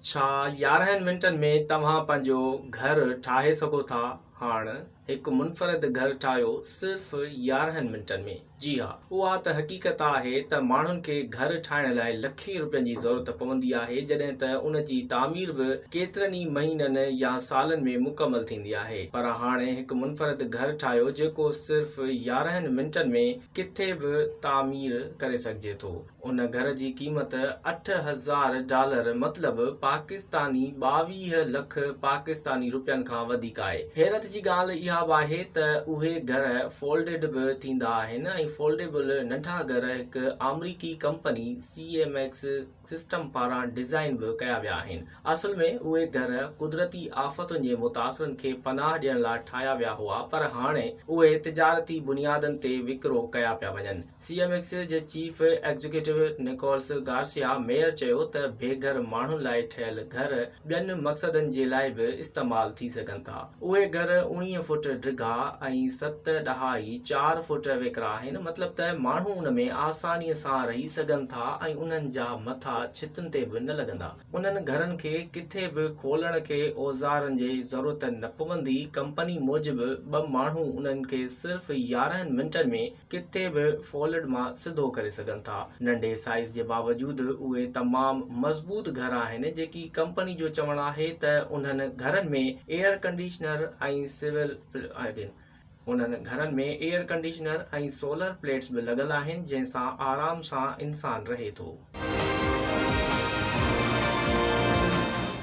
ڇا يارهن منٽن ۾ توهان پنهنجو گهر ٺاهي سگهو ٿا؟ هاڻ هڪ منفرد گهر ٺاهيو صرف يارهن منٽن ۾. جي ها، اها ته حقيقت آهي ته ماڻهن کي گهر ٺاهڻ لاء لکين روپين جي ضرورت پوندي آهي جڏهن ته ان جي تعمير به ڪيترن ئي مهينن يا سالن ۾ مڪمل ٿيندي آهي پر هاڻ هڪ منفرد گهر ٺاهيو جيڪو صرف يارهن منٽن ۾ ڪٿي به تعمير ڪري سگهجي ٿو. ان گهر جي قيمت اٺ هزار ڊالر مطلب پاڪستاني ٻاويهه لک پاڪستاني روپين کان وڌيڪ آهي. حيرت جي ڳالهه اها به آهي ته اهي گهر فولڊڊ به ٿيندا آهن ۽ فولڊيبل ننڍا گهر هڪ آمريڪي company C M X system پاران ڊزائين به ڪيا ويا آهن. اصل ۾ اهي گهر قدرتي آفتن جي متاثرن کي پناهه ڏيڻ لاء ٺاهيا ويا هئا پر هاڻي اهي تجارتي بنيادن تي وڪرو ڪيا پيا وڃن. سي ايم ايڪس جي chief executive Nicholas Garcia Meyer چيو ته بي گهر ماڻهن لاء ٺهيل گهر ٻين مقصدن جي لاء به استعمال ٿي سگهن ٿا. اهي گهر اوڻيهه فوٽ ڊگها ۽ ست ڏهائي چار فوٽ ويڪرا آهن، مطلب ته ماڻهو ان ۾ آساني سان رهي سگهن ٿا ۽ انهن جا مٿا ڇتن تي به نه لڳندا. انهن گهرن کي ڪٿي به کولڻ کي اوزارن جي ضرورت نه پوندي، ڪمپني موجب ٻه ماڻهو انهن کي صرف يارهن منٽن ۾ ڪٿي به فولڊ مان سڌو ڪري سگهن ٿا. ننڍي سائيز جي باوجود اهي تمام مضبوط گهر آهن جيڪي ڪمپني جو چوڻ آهي ته انهن گهرن ۾ ايئر ڪنڊيشنر ۽ سول آهن انهن گهرن ۾ ايئر ڪنڊيشنر ۽ سولر پليٽس به لڳل آهن جنهن سان آرام سان انسان رهي ٿو.